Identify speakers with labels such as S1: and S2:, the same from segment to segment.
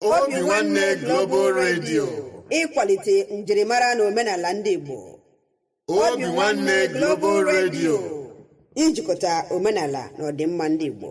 S1: obinwannem global radio
S2: ịkwalite njirimara na omenala ndị igbo obinwannem
S1: global radio ijikọta
S2: omenala na ọdịmma ndị igbo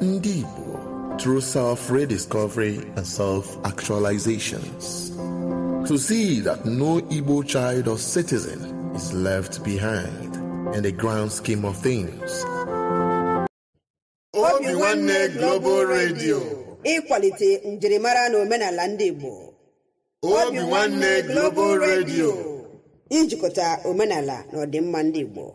S3: Ndị Igbo through self-rediscovery and self-actualizations. To see that no Igbo child or citizen is left behind in the grand scheme of things.
S1: Obinwannem Global Radio.
S2: ịkwalite njirimara na omenala ndị Igbo Obinwannem
S1: Global Radio. ijikọta
S2: omenala na ọdịmma ndị Igbo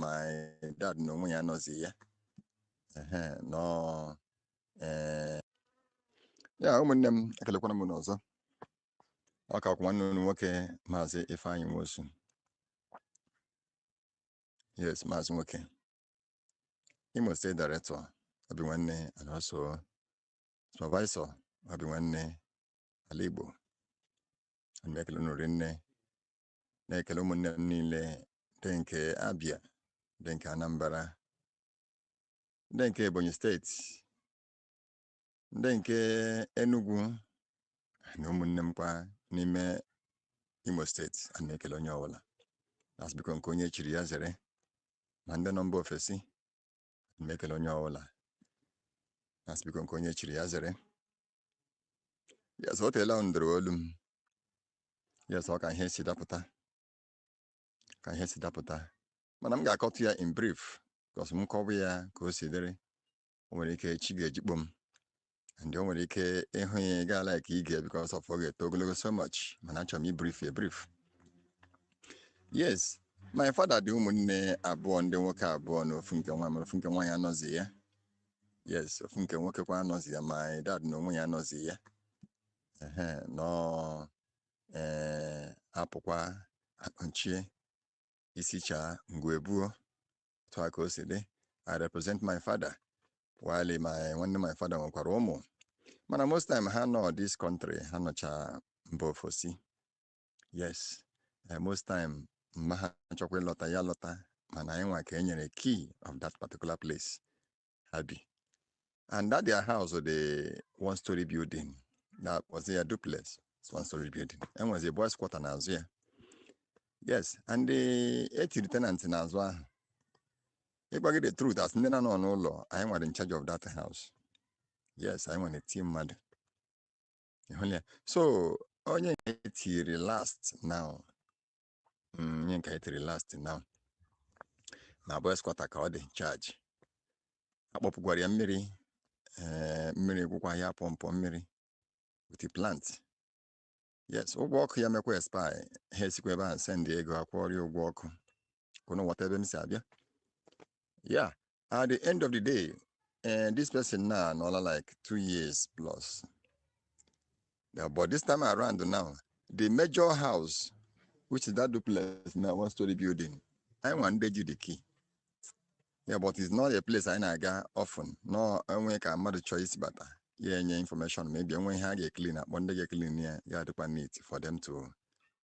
S4: my dad na onwe ya anọzi ya ehe nọ ee ya ụmụnne m ekelekwana m unu ọzọ ọ ka kwa nwanne unu nwoke maazị ifeanyị nwosu yes maazị nwoke imo state director obinwannem and also supervisor obinwannem ala igbo ana m ekele unu rinne na-ekele ụmụnne m niile ndị nke Abia ndị nke Anambra ndị nke Ebonyi steeti ndị nke Enugu na ụmụnne m kwa n'ime Imo steeti a na-ekele onye ọbụla na-asị biko nke onye chiri ya zere ma ndị nọ mba ofesi m ekele onye ọbụla na-asị biko nke onye chiri ya zere yes o teela m dere olu m yes ọ ka ihe si dapụta ka ihe si dapụta mana m ga-akọtụ ya in brief because m kọwa ya ka o si dịrị o nwere ike chi ga-ejikpo m and o nwere ike ị hụ ya ị gaa like ige because of ọ ga-eto ogologo so much mana achọrọ m ibrief ya brief yes my father dị ụmụnne abụọ ndị nwoke abụọ na ofu nke nwa mere ofu nke nwaanyị anọzi ya yes ofu nke nwoke kwa anọzi ya my dad na onwe ya anọzi ya ehe nọ ee a pụkwa a kpọchie isi chaa ngwuru ebe ahụ otu a ka o si dị i represent my father while my nwanne my father nwekwara ụmụ mana most time ha anọ this country ha nọcha mba ofesi yes eh, most time ma ha chọkwa ịlọta ya alọta mana anyị nwa ka e nyere key of that particular place ha bi and that their house dị one story building that was a duplex one story building enwezi boys quarter n'azụ ya yes and etiri tenant n'azụ ahụ ịgwa gị the truth as ndị na-anọ n'ụlọ anyị nwa dị in charge of that house yes anyị nwa na-eti mmadụ ịhụla ya so onye etiri last now mm, onye nke anyị tiri last now na boys quarter ka ọ dị charge akpọpụkwara ya mmiri eh, mmiri gwụkwa ya pọmpọ mmiri with plant yes ụgwọ ọkụ ya mekwa expire ha esikwa ebe ahụ send ego akwụọrọ ya ụgwọ ọkụ ka unu wọta ebe m si abịa ya at the end of the day uh, this person now no like two years plus yeah, but this time around now the major house which is that duplex now one story building I want the ji the key yeah but it's not a place I na often no enwe ka mmadụ chọọ isi bata ya enye information maybe enwe ihe a ga-eklin akpọ ndị ga-eklin ya ya adịkwa neat for them to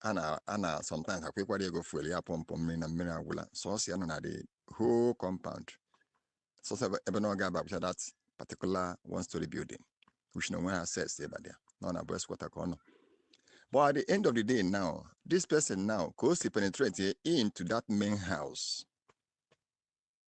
S4: a na a na sometimes akwụkwara ya ego fuel ya pọmpụ mmiri na mmiri agwụla sọsọ ya nọ na the whole compound sọsọ ebe- ebe na ọ ga-aba bụcha that particular one story building which na o nweghị access ịba there na ọ na boys quarter ka ọ nọ but at the end of the day now this person now ka o si penetrate into that main house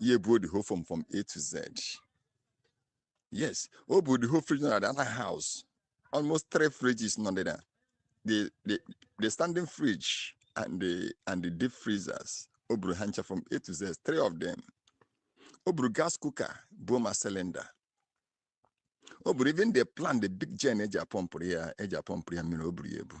S4: ya ebuo the whole foam from A to Z yes o buru the whole fridge na the other house almost three fridges nọ there the the the standing fridge and the and the deep freezers o buru ha ncha from A to Z three of them o buru gas cooker buo ma cylinder o buru even the plant the big gen eji apọmpụrụ ya eji apọmpụrụ ya mmiri o buru ya ebu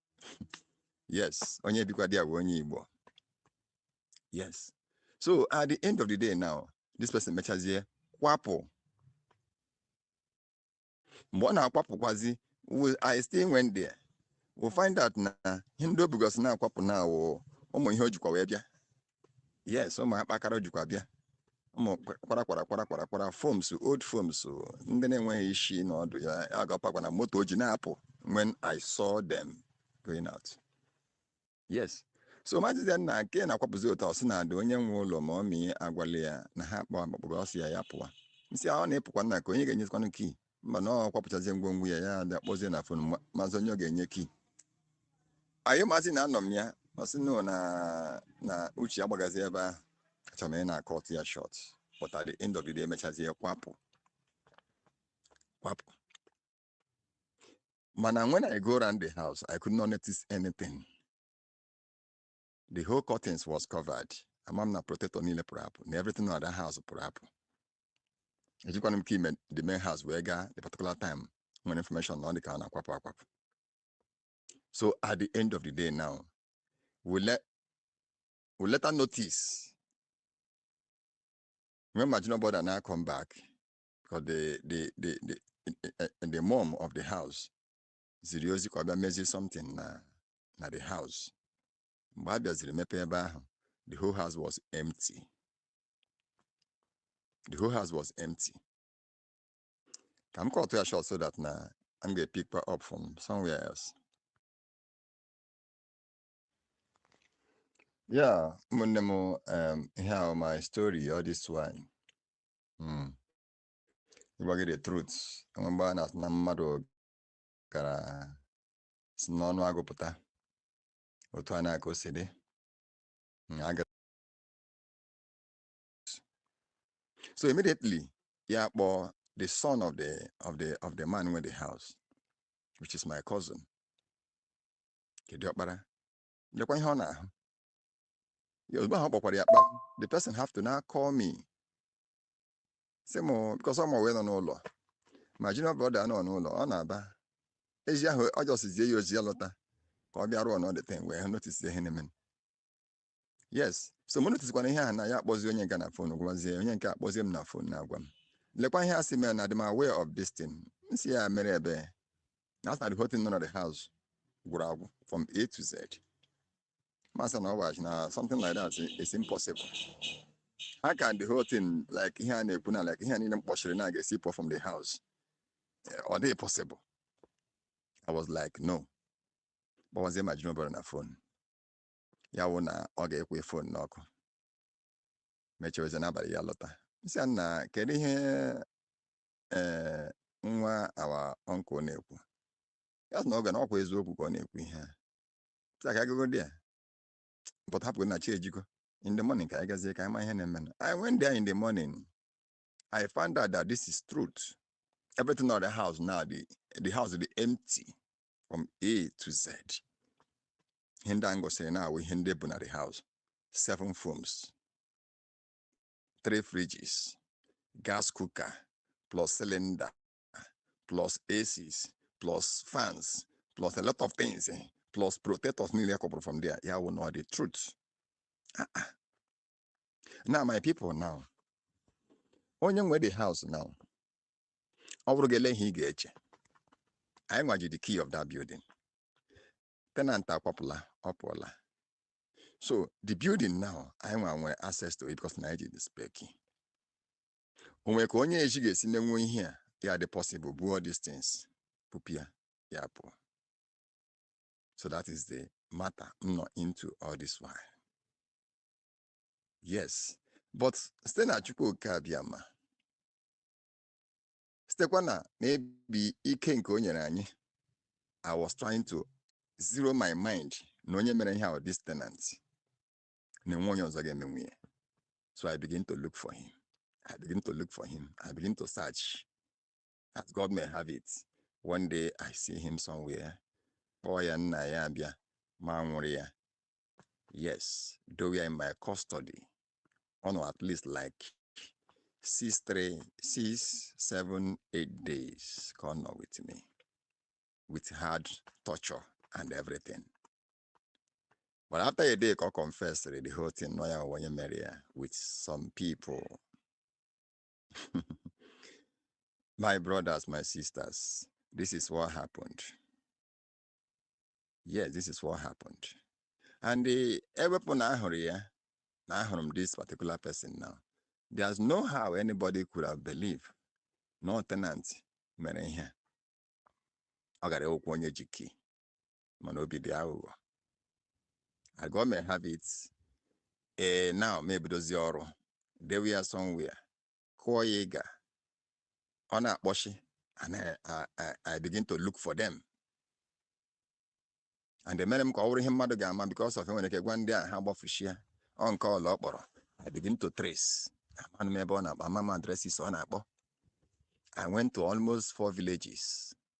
S4: yes onye bikwa there wụ onye Igbo yes so at the end of the day now this person mechazie kwapụ mgbe ọ na-akwapụkwazi I still went there we find out na ihe ndị o bugosị na-akwapụ na ọ wụ ụmụ ihe o jikwa wee bịa yes ụmụ akpakara o jikwa bịa ụmụ kwara kwara kwara kwara kwara foms old foms ndị na-enweghị isi na ọdụ ya agapakwa na moto o ji na-apụ when i saw them going out yes so m asị ya nna nke ị na-akwapụzi otu a ọ sị na ada onye nwe ụlọ ma ọ mịa agwala ya na ha kpọọ akpakpọrọ ọ sị ya ya pụwa m sị ọ na-epụkwa nna ka onye ga-enyezikwanụ key mba na ọ kwapụchazie ngwongwo ya ya akpọzie na phone ma- mazie onye ọ ga-enye key anyị m asị na anọ m ya ọ sị nụ na na uche agbagazi ebe ahụ achọrọ m ị na-acut ya short but at the end of the day emechazie kwapụ kwapụ mana when I go around the house I could not notice anything the whole curtains was covered ama m na protector niile pụrụ apụ na everything na that house pụrụ apụ ejikwanụ m key ime the main house wee gaa the particular time m nwere information na ọ dị ka ọ na-akwapụ akwapụ so at the end of the day now we let we later notice when my junior brother now come back because the the the the, the, the mom of the house ziri ozi ka a bịa mezie something na the house mgbe a bịaziri mepe ebe ahụ the whole house was empty the whole house was empty ka m kọtụ ya short so that na m ga-epikwa up from somewhere else ya ụmụnne m um, ihe a wụ my story all this while mm. ịgwa gị the truth enwe mgbe a na-asị na mmadụ gara si n'ọnụ agụ pụta otu a na-aka o si dị Mm, a gara- so immediately ya kpọọ the son of the of the of the man nwe the house which is my cousin nke di ọkpara lekwa ihe ọ na-ahụ ya ozugbo ahụ ọ kpọkwara ya kpa the person have to now call me sị m because ma wee nọ n'ụlọ my junior brother nọ n'ụlọ n'Aba ezi ahụ ọ just zie ya ozi ya lọta ka ọ bịa run all the thing wee hụ notice ihe na-eme yes so mụ noticekwana ihe ahụ na ya akpọzi onye nke a na phone gwazie onye nke a akpọzie m na phone na-agwa m lekwa ihe a sị mere na adị m aware of this thing m sị ya mere ebee na asị na the whole thing nọ na the house gwụrụ agwụ from a to z m asị na ọ gwachi na something like that is impossible how can the whole thing like ihe a na-ekwu na like ihe niile m kpọchiri na ga-esi pụọ from the house eh, ọ dịghị possible I was like no kpọwazie my junior brother na phone ya wụ na ọ ga-ekwe phone n'ọkụ mechewezi n'abalị ya lọta m sị ya nna kedu ihe ee eh, nwa our uncle na-ekwu ya sị na oge na ọ kwa eziokwu ka ọ na-ekwu ihe a sị ya ka a gago there but hapụ na chi ejigo in the morning ka anyị gazie ka anyị ma ihe na-eme na I went there in the morning I found out that this is truth everything on the house now the, the house dị empty from A to Z ihe ndị a m gosiri now wụ ihe ndị bụ na the house seven foams three fridges gas cooker plus cylinder plus ACs plus fans plus a lot of things eh, plus protectors niile a kwọpụrụ from there ya wụ nnọọ the truth ah, ah. now my people now onye nwe the house now ọ bụrụ gị ele ihe ị ga-eche anyị nwa ji the key of that building tenant akwapụla ọ pụọla so the building now anyị nwa nwere access to it because na anyị ji the spare key o nwere ka onye ezi ga-esi menwuo ihe a ya adị possible buo these things bupụ ya ya pụọ so that is the matter m nọ into all this while yes but site na Chukwu Oke Abịama sitekwa na maybe ike nke o nyere anyị i was trying to zero my mind na onye mere ihe ahụ this tenant na enwe onye ọzọ ga-eme nwunye so I begin to look for him I begin to look for him I begin to search as God may have it one day I see him somewhere kpọọ ya nna ya abịa ma nwụrụ ya yes though ya in my custody ọ nọ at least like six three six seven eight days ka ọ nọ with me with hard torture and everything But after a day, I confessed the whole thing. No, I want to marry her with some people. my brothers, my sisters, this is what happened. Yes, this is what happened. And the ewepụ na ahụrụ ya na ahụrụ m this particular person now. There's no how anybody could have believed no tenant mere ihe. Ọ gara okwu onye ji key. mana obi dị aghụghọ I go may have it ee now maybe dozie ọrụ dewe ya somewhere kụọ ya ịga ọ na-akpọchi and I, I, I, I begin to look for them and emere m ka ọ wụrụ ihe mmadụ ga-ama because of enwere ike gwa ndị a ha gbafushia ọ nke ọ laa ọkpọrọ I begin to trace amanụ m ebe ọ na-akpọ ama m addresses ọ na-akpọ I went to almost four villages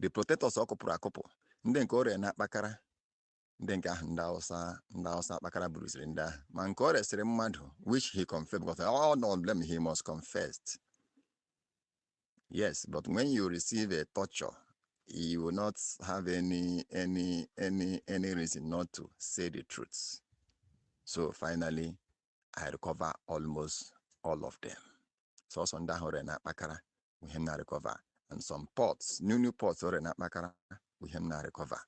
S4: the protectors ọ kụpụrụ akụpụ ndị nke o rere na akpakara ndị nke ahụ ndị awụsa ndị awụsa akpakara buruziri ndị ahụ ma nke o resịrị mmadụ which he confessed because all of them he must confess yes but when you receive a torture you will not have any any any any reason not to say the truth so finally I recover almost all of them sọsọ ndị ahụ o rere na akpakara wụ ihe m na-arecover and some pots new new pots o rere na akpakara wụ ihe m na-arecover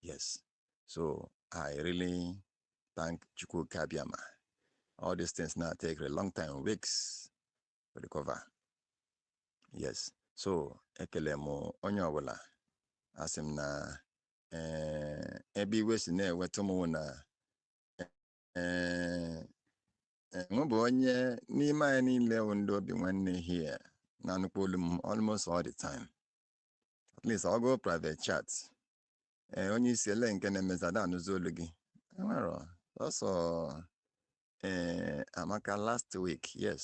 S4: yes so I really thank Chukwu Oke Abịama all these things now take a long time weeks to recover yes so ekele m onye ọbụla asị m na ee ebe iwe si na-ewetụ m wụ na ee mụ bụ onye n'ime anyị niile wụ ndị Obinwanne here na-anụkwu olu m almost all the time at least ọ gụọ private chat ee onye isi ele nke na-emezi a da anụzi olu gị enwerọ sọsọ ee Amaka last week yes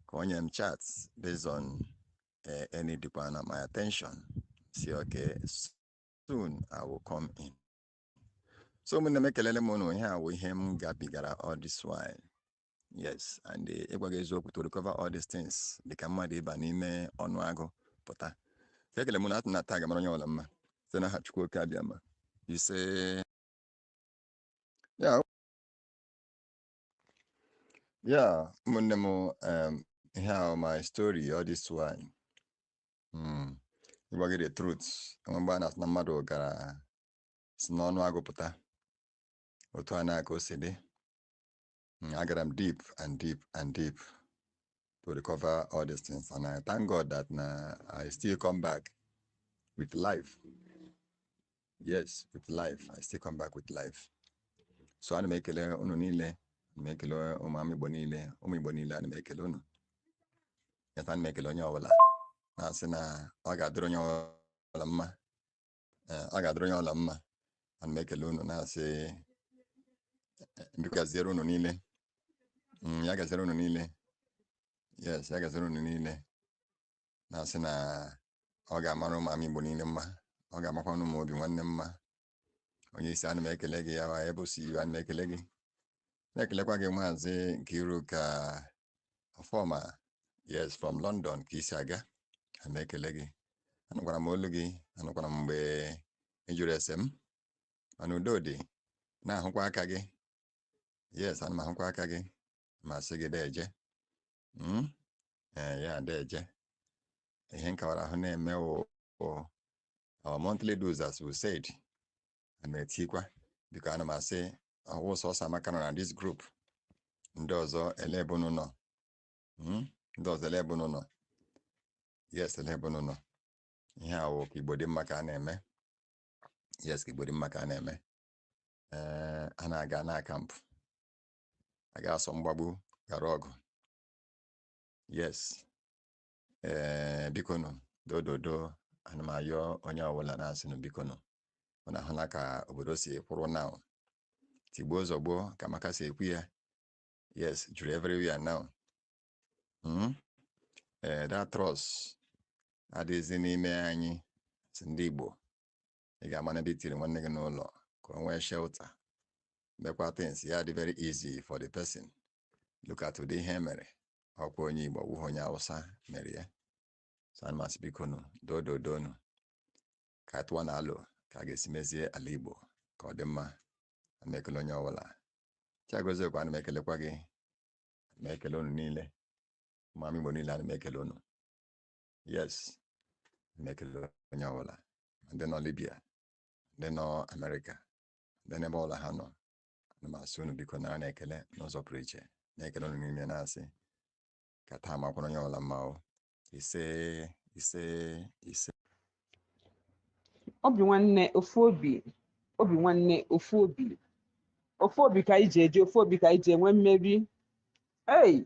S4: ka o nye m chat based on uh, ọ na-edemand my attention sị okay soon i will come in so ụmụnne m ekelele m ụnụ ihe a wụ ihe m gabigara all this while yes and eh, ịgwa gị eziokwu to recover all these things dịka mmadụ ịba n'ime ọnụ agụ pụta so ekele m ụnụ a sị na taa ga-amara onye ọbụla mma site n'aha Chukwu Oke Abịama isee ya Yeah, ụmụnne m um, ihe a wụ my story all this while mm. ịgwa gị the truth enwe mgbe a na-asị na mmadụ gara si n'ọnụ agụ pụta otu a nnaa ka o si dị hmm, agara m deep and deep and deep to recover all these things. And I thank God that now I still come back with life. Yes, with life. I still come back with life. So ana m ekele unu niile ana m ekele ụmụ ama Igbo niile ụmụ Igbo niile ana m ekele unu yes ana m ekele onye ọbụla na-asị na ọ ga-adịrị onye ọbụla mma ee ọ ga-adịrị onye ọbụla mma ana m ekele unu na-asị eh, biko gaziere unu niile Mm, ya gaziere unu niile yes ya gaziere unu niile na-asị na ọ ga-amara ụmụ ama igbo niile mma ọ ga-amakwanụ ụmụ obi nwanne mma onye isi ana m ekele gị ya wa ebe o si iwe ana m ekele gị ana m ekelekwa gị maazị Nkiruka Ọfọma yes from London ka i si aga ana m ekele gị anụkwara m olu gị anụkwara m mgbe ị jụrụ ese m mana udo dị na-ahụkwa aka gị yes ana m ahụkwa aka gị ma sị gị deje hmm? ee eh, ya deje ihe nkawara ahụ na-eme our monthly dues as we said ana m etikwa because ana m asị ọ wụ sọsọ amaka nọ na this group ndị ọzọ ele ebe unu nọ Mm? ndị ọzọ ele ebe unu nọ yes ele ebe unu nọ ihe a wụ ka igbo dị mma ka a na-eme yes ka igbo dị mma ka a na-eme ee a na-aga na kampụ a ga-asọ mgbagbu ghara ọgụ yes ee bikonu dododo ana m ayọ onye ọbụla na-asị unu bikonu unu ahụla ka obodo si kwụrụ now tigbuo zọgbuo ka Amaka si ekwu ya yes juru everywhere now mm? ee that trust adịghịzi n'ime anyị si ndị Igbo ị ga-ama na ebe i tiri nwanne gị n'ụlọ ka o nwee shelter mekwa things ya dị very easy for the person look at ụdị ihe mere ọkwa onye igbo ọ wụhụ onye awụsa mere ya so ana m asị bikonu dododonu ka a tụwanụ alo ka a ga-esi mezie ala igbo ka ọ dị mma ana m ekele onye ọbụla chiagozie kwa ana m ekelekwa gị ana m ekele unu niile ụmụ ama igbo niile ana m ekele unu yes ana m ekele onye ọbụla ma ndị nọ libya ndị nọ amerịka ndị n'ebe ọbụla ha nọ ana m asị unu biko naranụ ekele n'ụzọ pụrụ iche na-ekele unu niile na-asị ka taa makwara onye ọbụla mma o ise ise ise
S5: obi nwanne ofu obi obi nwanne ofu obi ofu obi ka anyị ji eje ofu obi ka anyị ji enwe mmeri ei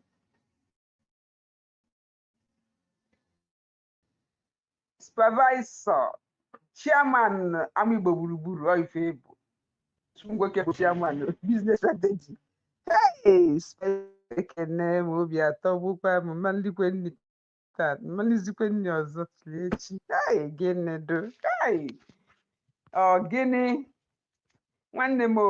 S5: supervisor chairman ama igbo gburugburu ọ ife ị bụ nwoke bụ chairman business strategy hey ekene m obi atọgbukwa m m malikwe nni taa m malizikwe nni ọzọ ruo echi hey gịnị do hey ọ gịnị nwanne m o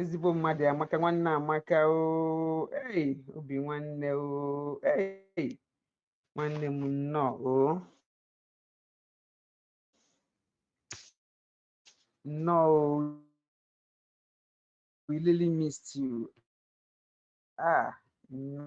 S5: ezigbo mmadụ amaka nwanne amaka oo ei obi nwanne oo ei nwanne m nnọọ oo nnọọ oo we really missed you ah nnọọ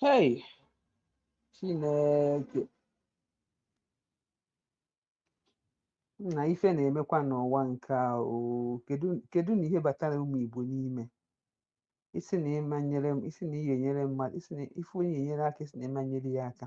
S5: Hey, Chineke na ife na-emekwa n'ụwa nke a oo kedu kedu na ihe batara ụmụ Igbo n'ime ị sị na ị ma-enyere m ị sị na i nyere mmadụ ị sị na ị fụ onye nyere aka ị sị na ị ma-enyere ya aka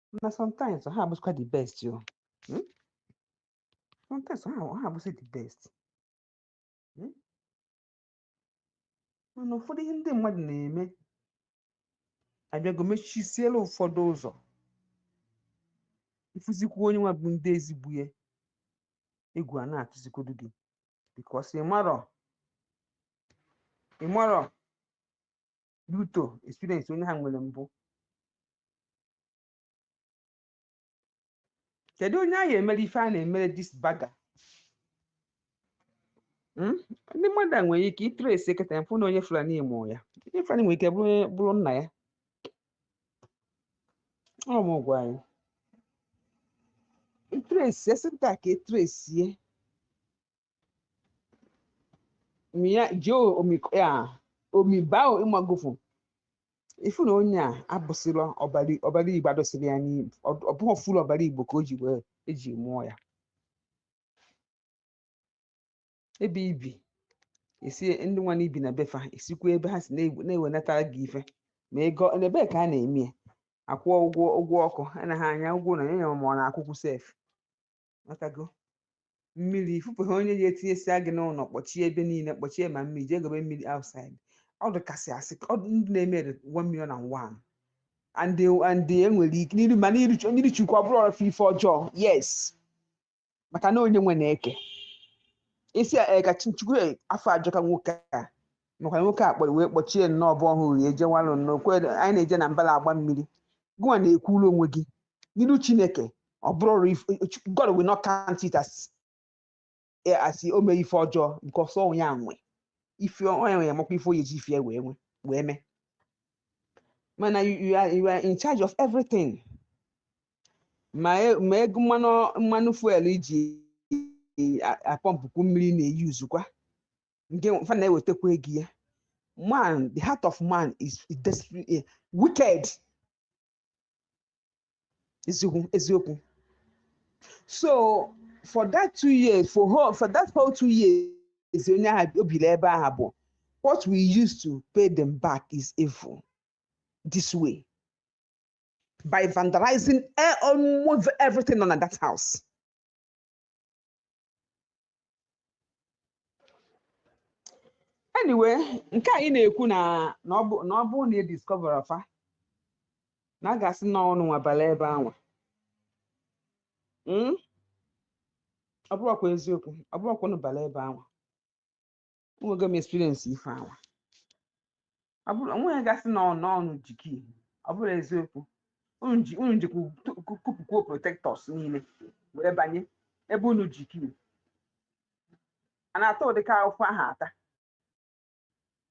S5: na sometimes ha abụzikwa the best yo Hmm? sometimes ha ha abụzi the best Hmm? mana ụfọdụ ihe ndị mmadụ na-eme abịago mechisiela ụfọdụ ụzọ ị fụzikwa onye nwa bụ ndị ezigbo ya egwu ana-atụzikwodu gị because ị marọ ị marọ due to experience onye ha nwere mbụ kedu onye a ya-emere ife a na-emere this bugger hmm? ndị mmadụ a nwere ike i trace eketa m fụ na onye fulani mụọ ya onye fulani nwere ike bụrụ nna ya ọ m gwa anyị i trace esi nta ka e trace miya jio omi ya omi bao ị magofu ị fụ na onye a abụsịrọ ọbara ọbara igbo adịsịrọ ya n'igbo ọ bụghị full ọbara igbo ka o ji wee e ji mụọ ya ebe i bi e si ndị nwa i bi na be fa e sikwa ebe ha si na-egwu- na-ewenatara gị ife ma ego na ebee ka a na-eme ya akwụọ ụgwọ ụgwọ ọkụ anaghị ana ya ụgwọ onye ma ọ na-akwụkwụ sef ma ta ego mmiri ị fụbe ha onye ya-etinyesịa gị n'ụlọ kpọchie ebe niile kpọchie ma mmiri jee gobe mmiri outside ọ dịka a sị ka ọ dị ndị na-eme dị one million and one and they- and they e nwere ike n'iru ma n'iru Chu- n'iru chukwu ọ bụrụrụ fa ife ọjọọ yes maka na onye nwe na-eke isi a, eh, ka Chi- chukwu eh, afọ ajọka nwoke a maka nwoke a kpọrọ wee kpọchie nnọọ bụ ọhụrụ ya ejewalụ nnọọ kwe anyị na-eje na mbala agba mmiri gụnwa na-ekwuru onwe gị n'iru chineke ọ bụrụgodu if- Ch- god will not count it as eh, as o mee ife ọjọọ because onye a nwe ife onye nwe ya makwa ife onye ji ife ya wee nwe wee mee mana you, you, are, you are in charge of everything ma e- ma ego mmanụ mmanụ fuel iji a- apọmpụkwu mmiri na-eyuzukwa nke fa na-ewetakwa ego ya man the heart of man is is desperate eh, wicked eziokwu eziokwu so for that two years for whole for that whole two years onye ahụ o biri ebe ahụ bụ what we used to pay them back is evil this way by vandalizing e- almost everything on that house anyway nke anyị na-ekwu na na ọ bụ na ọ bụrụ na e discoverọ fa na a ga-asị na ọ ụnụnwa bala ebe anwa Mm? ọ bụrụkwa eziokwu ọ bụrụkwa unu bala ebe anwa enwego m experience ife anwa ọ bụrụ onweghị ga-asị na ọ ụnụ ọ ụnụ ji key ọ bụrụ eziokwu unu ji unu jikwa tu- ku- kupụkwuo protectors niile wee banye ebe unu ji key a na-ata ụdịka afụfụ ahụ ata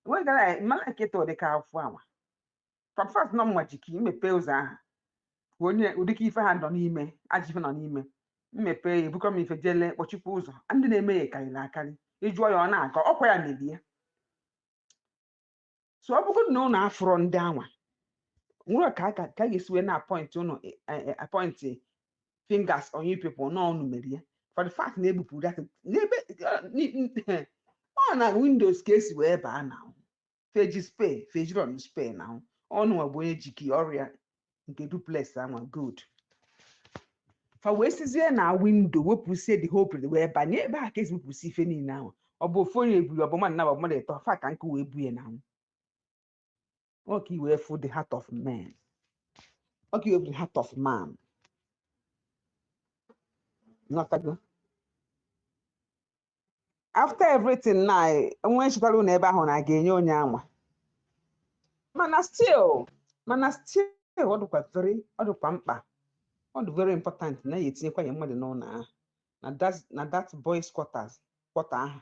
S5: enweghị ka m ma like ịta ụdịka afụfụ anwa from first na ọ mụwa ji key mepee ụzọ ahụ ka onye ụdịka ife ha nọ n'ime ajọ ife nọ n'ime m mepe ya ebukọ m ife jele kpọchikwa ụzọ ndị na-eme ya karịrị akarị ị jụọ ya ọ na-agọ ọkwa ya mere ya so ọ bụrụ na ụnụ afụrọ ndị anwa nwere ka a ga- ka a ga-esi wee na-apọịntị ụnụ eh, eh, eh, apọịntị fingers on you people na ọ ụnụ mere ya for the fact na ebupụ that n'ebe ọ na windows ka e si wee baa na fa eji spare fa ejirọ na spare na ọ ụnụnwa bụ onye ji key ọrịa nke duplex anwa good fa wee sizie na window wepụsie the whole place wee banye ebe a ka e si wepụsi ife niile ahụ ọ bụ ofu onye ebuli ọ bụ mmadụ naabọ mmadụ ịtọ fa ka nkụ wee buye na anwụ ọ ka i wee fụ the heart of man ọ ka i wee fụ the heart of man ị ghọtago after everything na enwe nchịkwara ụlọ ebe ahụ na a ga-enye onye anwa mana still mana still ọ dịkwa very ọ dịkwa mkpa ọ dị very important na a ya-etinyekwa ya mmadụ n'ụlọ ahụ na that na that boys quarters quarter ahụ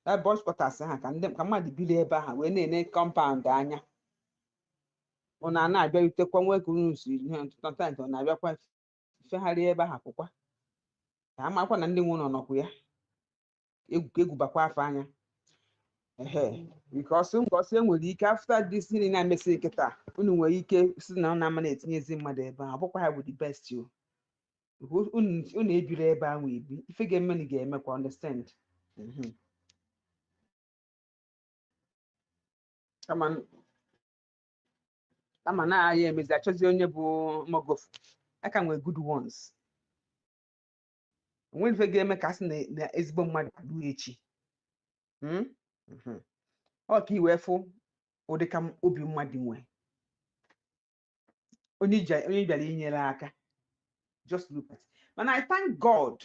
S5: that boys quarters ahụ ka ndị ka mmadụ biri ebe ahụ wee na-ene compound anya ọ na na-abịarutekwa nwoke unu sometimes ọ na-abịakwa fegharịa ebe ahụ pụkwa ka a makwa na ndị nwe ụlọ nọkwa ya egwu ka egwu bakwa fa anya ehe because because enwere ike after this thing na-emesi kịta unu nwere ike sị na unu ama na-etinyezi mmadụ ebe ahụ ọ bụkwa ha bụ the best o Because unu unu ebiri ebe ahụ ebi ife ga-emenụ ga-emekwa understand Mhm. kama kama na anyị emezi achọzi onye bụ mogofu aka nwee good ones onwere ife ga-eme ka a sị na na ezigbo mmadụ adụ echi Mm? Mhm. ọ ka i wee fụ ụdị ka m- obi mmadụ nwee onye ija- onye bịara inyere aka just look at mana I thank God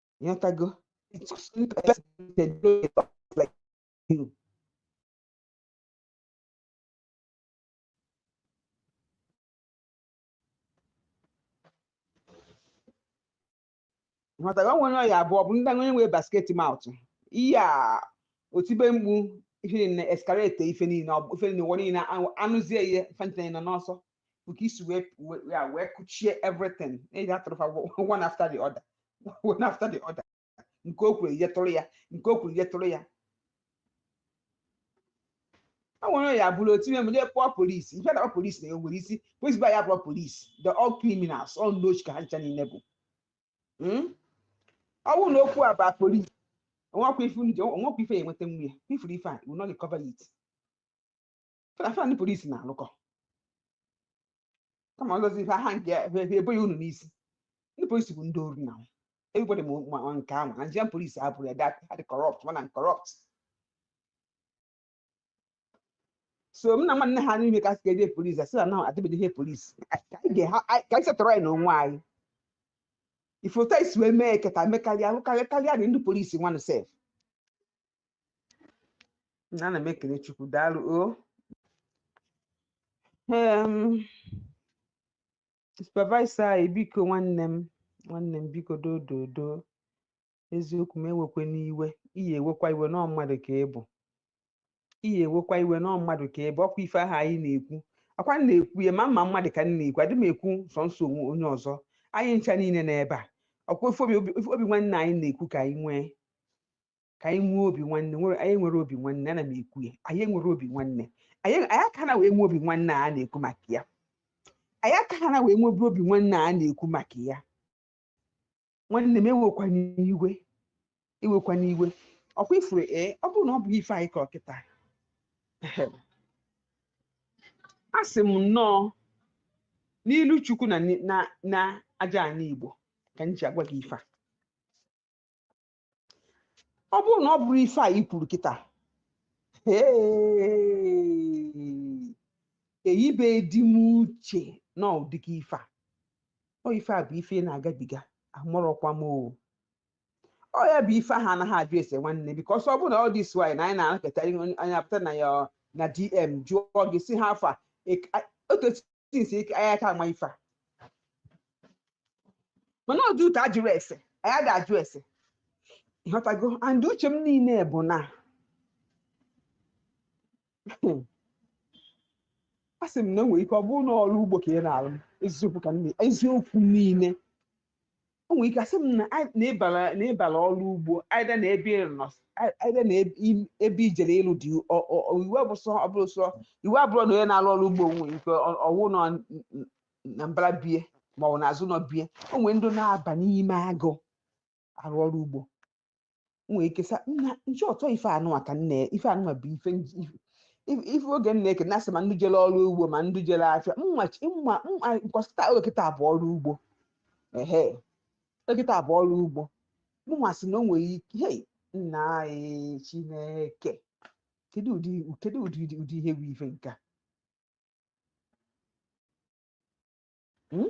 S5: ịghọtago nghọtara nwere ọ ya-abụ ọ bụrụ ndị onye nwere basket mouth ihe a o tibe mkpu ihe na escalate ife niile ife niile ụwa niile anụzie ihe ife anyị nọ n'ọsọ bụ ka e si wee ya wee kụchie everything eji atụrụ fa one after the other one after the other nke o kwuru ihe tụrụ ya nke o kwuru ihe tụrụ ya ọ nwere ya bụrụ otu ime mụnye kpọọ polisi ife na polisi na enwere isi polisi ba ya kpọọ polisi they're all criminals all ndị oshi ka ha ncha niile bụ hmm? ọ bụrụ na okwu a bụ polisi onwekwa ife onwekwa ife ya enweta nwa ya ị fụrụ ife a will not recover it Fa na fa na ndị polisi na-alụkọ kama ọzọzi ife aha nke efe ebo ya unu n'isi ndị polisi bụ ndị ori na nwa. everybody ma ma- ma nke ahụ na Nigerian polisi abụrụ ya that had corrupt mana corrupt so m na nwanne ha n'ime ka a sị eje polisi asị na na adịbeghị eje polisi ka anyị ga- ha- anyị- ka anyị setọrọ anyị n'onwe anyị ị fụ otu e si wee mee kịta mekarịa karịa karịa dị ndị polisi nwanụ sef na ana m ekele Chukwu daalụ o Em, supervisor anyị biko nwanne m nwanne m biko dododo eziokwu m ewekwana iwe ị ya ewekwa iwe na ọọ mmadụ ka ị bụ ị ya ewekwa iwe na ọọ mmadụ ka ị bụ ọkwa ife ahụ anyị na-ekwu ọkwa m na-ekwu ya ma mma mmadụ ka m na-ekwu adị m ekwu sọnsọ onwe onye ọzọ anyị ncha niile n'ebe a ọkwa ife obi obi- ife obi nwanne anyị na-ekwu ka anyị nwee ka anyị nwee obi nwanne nwere anyị nwere obi nwanne ana m ekwu ya anyị nwere obi nwanne anyị anyị aka na wee nwee obi nwanne a na-ekwu maka ya anyị aka ha na wee nwebe obi nwanne a na-ekwu maka ya nwanne m ewekwana iwe ewekwana iwe ọkwa ifuru ee ọ bụrụ na ọ bụghị ife anyị kọ kịta a sị m nọ n'ilu Chukwu na ni- na na aja ana Igbo ka m ji agwa gị ife a ọ bụrụ na ọ bụrụ ife a i kwuru kịta eyibe di m uche na ụdịka ife a ọ ife a bụ ife ị na-agabiga amarọkwa m o ọ ya bụ ife ahụ anaghị ajụ ese nwanne because ọ bụrụ na ọ dị swy na anyị na-anakọta onye- anyị apụta na ya na DM jụọ gị sị how far otu esi since ike anyị aka ama ife a mana ọ due to ajụrọ ese anyị ada ajụ ese ịghọtago and uche m niile bụ na a sị m na o nwere ike ọ bụrụ na ọrụ ugbo ka ị na-arụ eziokwu ka nne eziokwu niile o nwere ike asị m na anyị- na ịbara na ịbara ọrụ ugbo either na ebe ị nọ ei- either na ebe i- ebe i jere ịlụ di ọ- ọ- ọ- iwu abụ sọ ọ bụrụ sọ iwu abụrụ na onye na-arụ ọrụ ugbo nwere ike ọ- ọwụ nọ n- n- na mbara bie ma ọ bụ n'azụ ụnọ bie o nwere ndị na-aba n'ime agụ arụ ọrụ ugbo nwee ike sa nna nchi ọtọ ife anụnwa ka nne ife anụnwa bụ ife nji- ife- ife- ife oge nna eke na-asị ma ndị jere ọrụ ugbo ma ndị jere afịa mma chi- mma mma nkọsịta oge kịta bụ ọrụ ugbo ehe oge kịta bụ ọrụ ugbo mụnwa sị na o nwere ike hei nna anyị Chineke kedu ụdị kedu ụdị ụdị ụdị ihe bụ ife nke a? Hmm?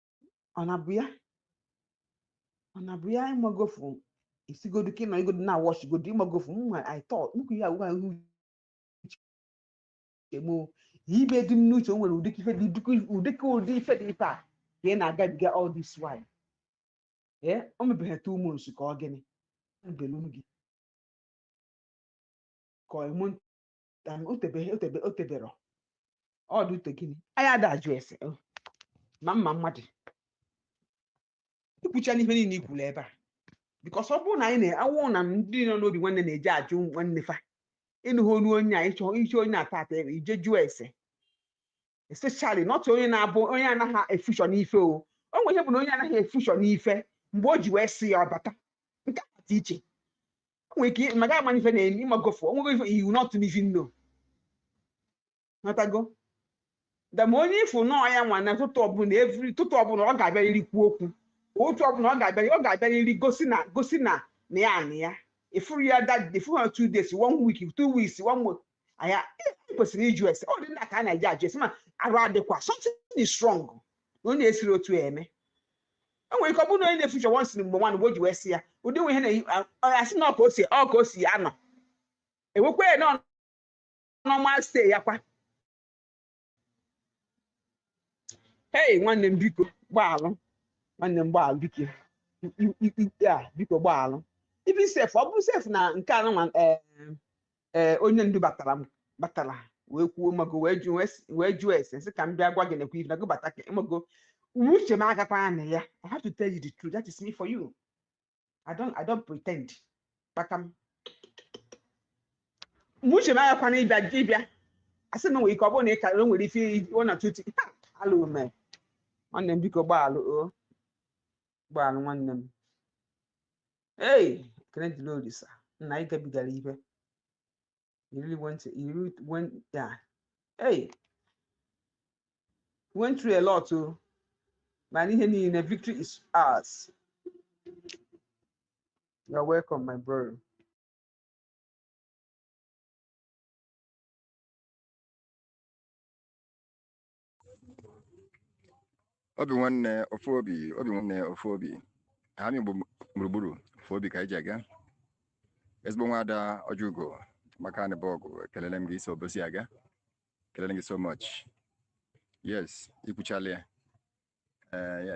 S5: ọ na bụ ya ọ na bụ ya ịmagofu isigodu ka ị nọ igodo na wọchigodo ịmagofu mma i thought nnukwu ya agwa ihu chegbu ibe dị m n'uche o nwere ụdị ife dị ụdịka ụdị ife dị ife a ka ị na-agabiga all this while ee o mebeghị two months ka ọ gịnị ebelu gị ka ọ emu Dan otebe otebe otebero ọ due to gịnị anyị ada ajụ ese o ma mma mmadụ ikwucha n'ihe niile ikwuru ebe a because ọ bụrụ na anyị na-awụ na ndị nọ n'obi nwanne na-eje ajụ nwanne fa ịnụghị onu onye a ịchọ ịchọ onye na-ata ata ebe i je jụọ ese especially not onye na-abụ onye anaghị efushọ n'ife o o nwere ihe bụ na onye anaghị efushọ n'ife mgbe o ji wee sị ya ọbata nke a dị iche nwere ike ma gaghị ama na ife na-eme ị magofu o nwego ife you will not even know matago dama onye ị fụ nọọ ya nwa n'ụtụtụ ọbụla every ụtụtụ ọbụla ọ ga-abịarịrị kwuo okwu otu ọbụla ọ ga-abịarị ọ ga-abịarịrị gosi na gosi na na ya nọ ya ị fụrụ ya that day fụrụ ya two days one week two weeks one month aya ị kwesịrị ịjụ ese ọ dị mma ka a na-eji ajụ ese ma arụ adịkwa something is wrong na onye esiri otu ya eme o nwere ike ọ bụrụ na onye na-efu ụzọ once mgbe nwanụ mgbe o ji wee sị ya ụdị nwe ihe na-asị na ọ ka o si ọ ka o si anọ e wekwa ya na ọ normal sị ya kwa hey nwanne m biko gbaalụ nwanne m gbaalụ biko i- i- i- a biko gbaalụ even sef ọ bụrụ sef na nke a nwa ee onye ndu batara batara wee kwuo mago wee jụ wee sị- wee jụọ ese sị ka m bịa gwa gị nekwa ife na gị bata ka mago uche m agakwa na ya I have to tell you the truth that is me for you I don't I don't pretend kpakam mgbe uche m agakwa na ịbịa ịbịa asị na nwere ike ọ bụrụ na ị karịrị o nwere ife ọ na tuti alụ ume nwanne m biko gbaalụ o gbaalụ nwanne m ei ekele dịrị olisa nna anyị gabigara ibe you really went to, you really went yeah hey you went through a lot o mana ihe niile victory is ours you're welcome my brother
S4: obi nwanne ofu obi obi nwanne ofu obi anị Igbo gburugburu ofu obi ka anyị ji aga ezigbo nwada Ọjịugo maka na ị bụ ọgụ ekelele m gị i si Obosi aga ekelele m gị so much yes i kwuchala ya ee ya